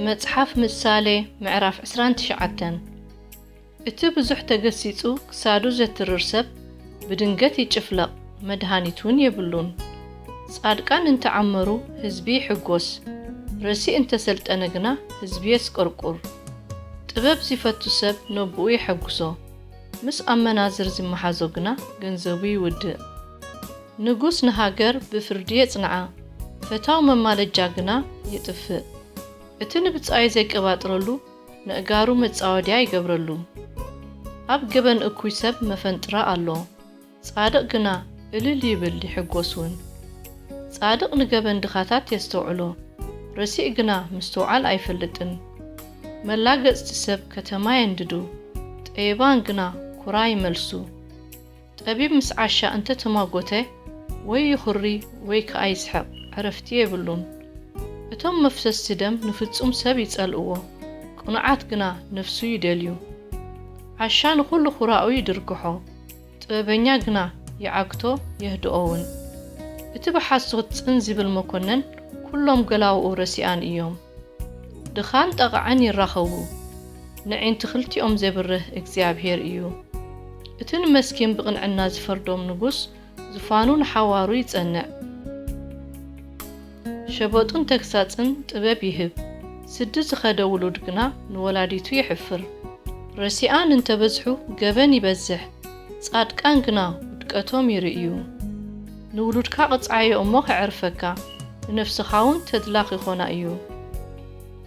መጽሓፍ ምሳሌ ምዕራፍ 29 እቲ ብዙሕ ተገሲጹ ክሳዱ ዘትርር ሰብ ብድንገት ይጭፍለቕ፣ መድሃኒት እውን የብሉን። ጻድቃን እንተ ዓመሩ ህዝቢ ይሕጎስ፣ ረሲእ እንተ ሰልጠነ ግና ህዝቢ የስቆርቁር። ጥበብ ዚፈቱ ሰብ ነቦኡ የሐጉሶ። ምስ ኣመናዝር ዝመሓዞ ግና ገንዘቡ ይውድእ። ንጉስ ንሃገር ብፍርዲ የጽንዓ፣ ፈታው መማለጃ ግና የጥፍእ። እቲ ንብጻዩ ዘይቀባጥረሉ ነእጋሩ መጻወድያ ይገብረሉ። ኣብ ገበን እኩይ ሰብ መፈንጥራ ኣሎ። ጻድቕ ግና እልል ይብል ይሕጐስ ውን። ጻድቕ ንገበን ድኻታት የስተውዕሎ፣ ረሲእ ግና ምስትውዓል ኣይፈልጥን። መላገጽቲ ሰብ ከተማ የንድዱ፣ ጠቢባን ግና ኵራ ይመልሱ። ጠቢብ ምስ ዓሻ እንተ ተማጐተ፣ ወይ ይዅሪ ወይ ከኣ ይስሕቕ፣ ዕረፍቲ የብሉን። እቶም መፍሰስቲ ደም ንፍጹም ሰብ ይጸልእዎ፣ ቅኑዓት ግና ነፍሱ ይደልዩ። ዓሻ ንዅሉ ዅራኡ ይድርግሖ፣ ጥበበኛ ግና ይዓግቶ የህድኦውን። እቲ ብሓሶት ጽን ዚብል መኰነን ኵሎም ገላዉኡ ረሲኣን እዮም። ድኻን ጠቓዕን ይራኸቡ፣ ነዒንቲ ክልቲኦም ዜብርህ እግዚኣብሄር እዩ። እቲ ንመስኪን ብቕንዕና ዚፈርዶም ንጉስ፣ ዙፋኑ ንሓዋሩ ይጸንዕ። ሸበጡን ተግሳጽን ጥበብ ይህብ፣ ስዲ ዝኸደ ውሉድ ግና ንወላዲቱ የሕፍር። ረሲኣን እንተ በዝሑ ገበን ይበዝሕ፣ ጻድቃን ግና ውድቀቶም ይርእዩ። ንውሉድካ ቅጽዓዮ እሞ ከዕርፈካ፣ ንነፍስኻውን ተድላ ኺኾና እዩ።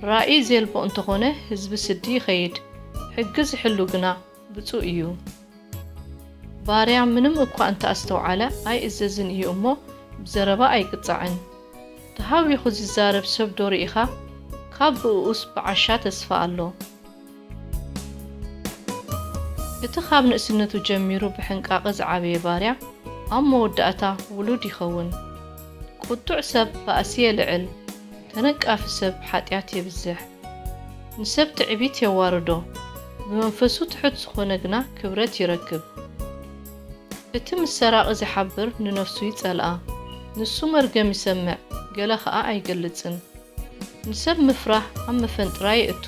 ራእይ ዜልቦ እንተኾነ ህዝቢ ስዲ ይኸይድ፣ ሕጊ ዚሕሉ ግና ብጹእ እዩ ባርያ ምንም እኳ እንተ ኣስተውዓለ ኣይእዘዝን እዩ እሞ ብዘረባ ኣይቅጻዕን ተሃዊኹ ዝዛረብ ሰብ ዶ ርኢኻ ካብ ብእኡስ ብዓሻ ተስፋ ኣሎ። እቲ ካብ ንእስነቱ ጀሚሩ ብሕንቃቐ ዝዓበየ ባርያ ኣብ መወዳእታ ውሉድ ይኸውን። ቁጡዕ ሰብ ባእሲ የልዕል ተነቃፊ ሰብ ሓጢኣት የብዝሕ። ንሰብ ትዕቢት የዋርዶ፣ ብመንፈሱ ትሑት ዝኾነ ግና ክብረት ይረክብ። እቲ ምስ ሰራቒ ዚሓብር ንነፍሱ ይጸልኣ፣ ንሱ መርገም ይሰምዕ፣ ገለ ኸኣ ኣይገልጽን። ንሰብ ምፍራህ ኣብ መፈንጥራ የእቱ፣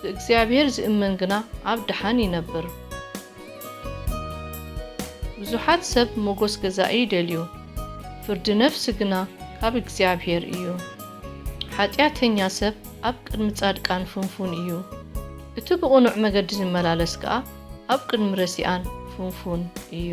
ብእግዚኣብሄር ዚእመን ግና ኣብ ደሓን ይነብር። ብዙሓት ሰብ ሞጎስ ገዛኢ ይደልዩ፣ ፍርዲ ነፍሲ ግና ካብ እግዚኣብሄር እዩ። ሓጢኣተኛ ሰብ ኣብ ቅድሚ ጻድቃን ፍንፉን እዩ፣ እቲ ብቕኑዕ መገዲ ዚመላለስ ከኣ ኣብ ቅድሚ ረሲኣን ፍንፉን እዩ።